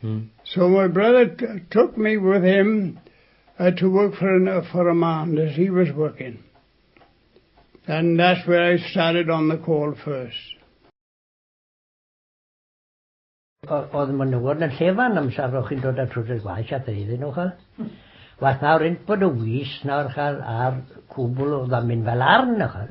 Hmm. So my brother took me with him uh, to work for, an, uh, for a man that he was working. And that's where I started on the call first. Oedd ma'n newod yn llefan am safrwch chi'n dod at rhywbeth gwaith at ei ddyn nhw chael. Wath nawr un bod y wys nawr chael ar cwbl o ddamin fel arn o chael.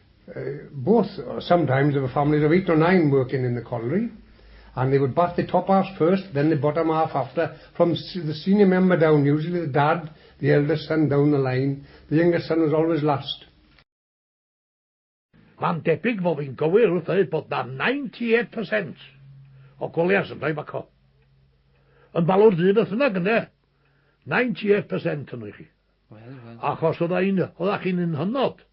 both sometimes there were families of eight or nine working in the colliery and they would bath the top halves first then the bottom half after from the senior member down usually the dad the eldest son down the line the youngest son was always last Mae'n debyg fod fi'n gywir wrth ddweud bod 'na 98% o colliers yn rhoi baco. Yn balwr du beth bynnag ynde? 98% yno i chi. Wel, wel. Achos oedda chi'n un hynod.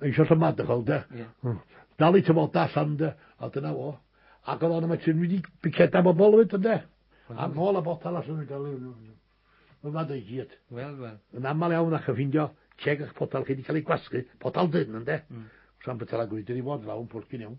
Mae eisiau sabbatical, de? Yeah. Hmm. Dal i tyfoda allan, de? A dyna fo. Ac oedd o'n yma ti'n wedi biceda bobl fyd, de? A nôl a botal allan yn gael ei... Mae'n fad o'i gyd. Wel, wel. Yn aml iawn ac yn ffindio ceg a'ch potal chi wedi cael ei gwasgu, potal dyn, de? Mm. Sa'n bytal a gwyd, wedi fod lawn pwrcyn iawn.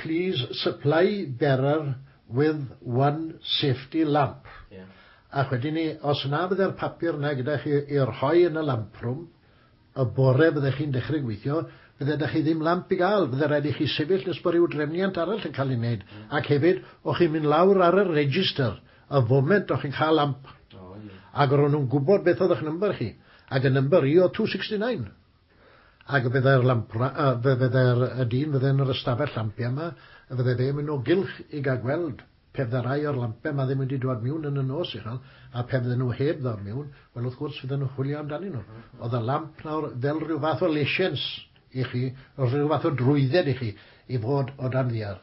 Please supply bearer with one safety lamp. Ac wedyn 'ny, os na fydde'r papur 'na gyda chi i rhoi yn y lamp room, y bore fydde chi'n dechre gweithio, fydde 'da chi ddim lamp i ga'l, fydde raid i chi sefyll nes bo ryw drefniant arall yn ca'l ei neud, ac hefyd, o' chi'n mynd lawr ar y register y foment o' chi'n ca'l lamp, ag o' ro' nw'n gwbod beth o'dd 'ych number chi, ag y number i o'dd two sixty nine. Ac fe fyddai'r lampra- yy, fe fyddai'r y dyn fydde yn yr ystafell lampia 'ma, y fydde fe'n mynd o gylch i gael gweld, pe fydde rai o'r lampia 'ma ddim wedi dwad miwn yn y nos uchel, a pe fydden nhw heb ddod miwn, wel, wrth gwrs, fydden nhw'n chwilio amdanyn nhw. Oedd y lamp nawr fel rhyw fath o lesiens i chi, rhyw fath o drwydded i chi i fod o dan ddiar.